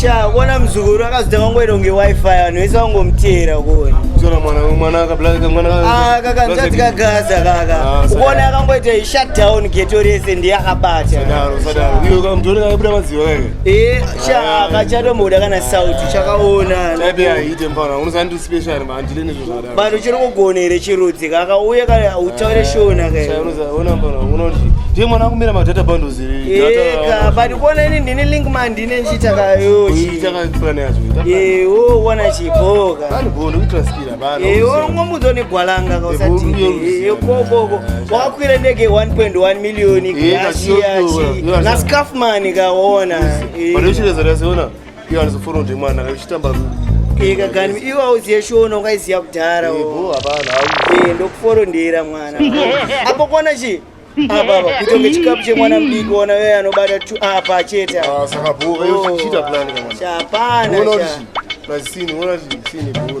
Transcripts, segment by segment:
sha kuona muzukuru akazoda kangoita kunge wifi vanhu vese vangomuteera kuona Tona mwana mwana akablaka mwana Ah, kaka mzati kagaza kaka Ah, sadaro. ukuona akangoita i shut down geto rese ndiye akabata Sadaro sadaro. Iyo kamtori kaibuda madziwa kaka. Eh, sha Ah. kachatomboda kana sauti chakaona Chaibe aite mfana. Unosandi special manje leni zvozvara. Vanhu uchiri kugona here chirudzi kaka uye kana utaure shona kaunoti ndiye mwana akumira madata bundles eka but kuona ini ndine link man ndine nchitakayochiwoona chiboka ngomudza negwalanga kausatiokokoko wakakwira ndege 1.1 million gashiyachi nascafman kaona Iyo anozofona ndi mwana uchitamba Eka gani iwe auziye shona ukaiziya kudhara. Eh, bo hapana. Eh, ndokuforo ndira mwana. Apo kona chi? Apa kutonge chikapu chemwana mdiki ona wewe anobata tu apa chete. Ah, saka bo wewe uchita plan kana. Chapana. Unoona kuti. Plus sini, unoona kuti sini bo.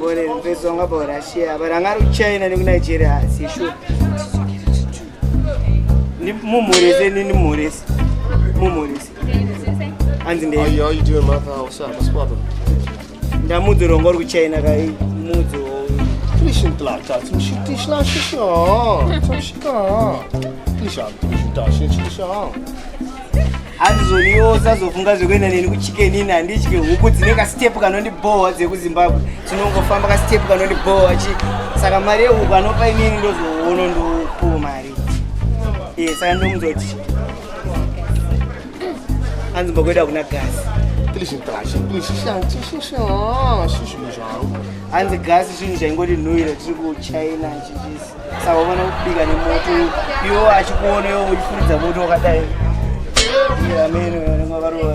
bore mpeso wanga pa russia but anga ari kuchina nekunigeria asi sure mumhorese nini mhorese mumhorese hanzi ndei ndamudzi urongo uri kuchina kai mudzi andizoniwo sazofunga zvekuenda neni kuchicken ini handitye huku dzine kastep kanondibhowa dzekuzimbabwe tinongofamba kastep kanondibhowa chi saka mari yehuku anopa inini ndozoono ndopuwa mari e saka ndomudzoti hanzi mbokuenda kuna gasi hanzi gasi chinhu chaingoti nhuira tiri kuchina chichisi saka uona kubika nemoto iwo achikuona iwo uchifuridza moto wakadai amene varoa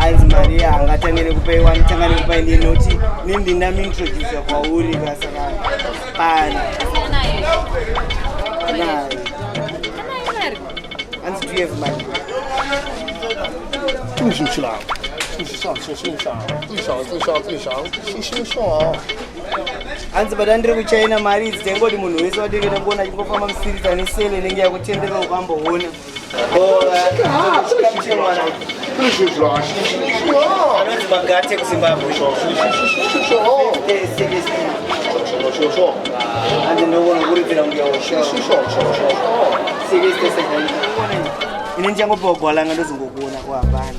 hanzi mari angatange nekupaiwa anotanga nekupai nenoti nindi ndamuintrodusa kwauri kasaka pana hanzi do you have money hanzi bata ndiri kuchina mari idzi taingoti munhu wese watenge takuona achingofamba musirita nesele inenge yakutenderwa ukamboona anonzi magate kuzimbabwe hanzi ndoona kuridzira mbuya ini ndichangopiwa gwalanga ndozongokuona kuhapana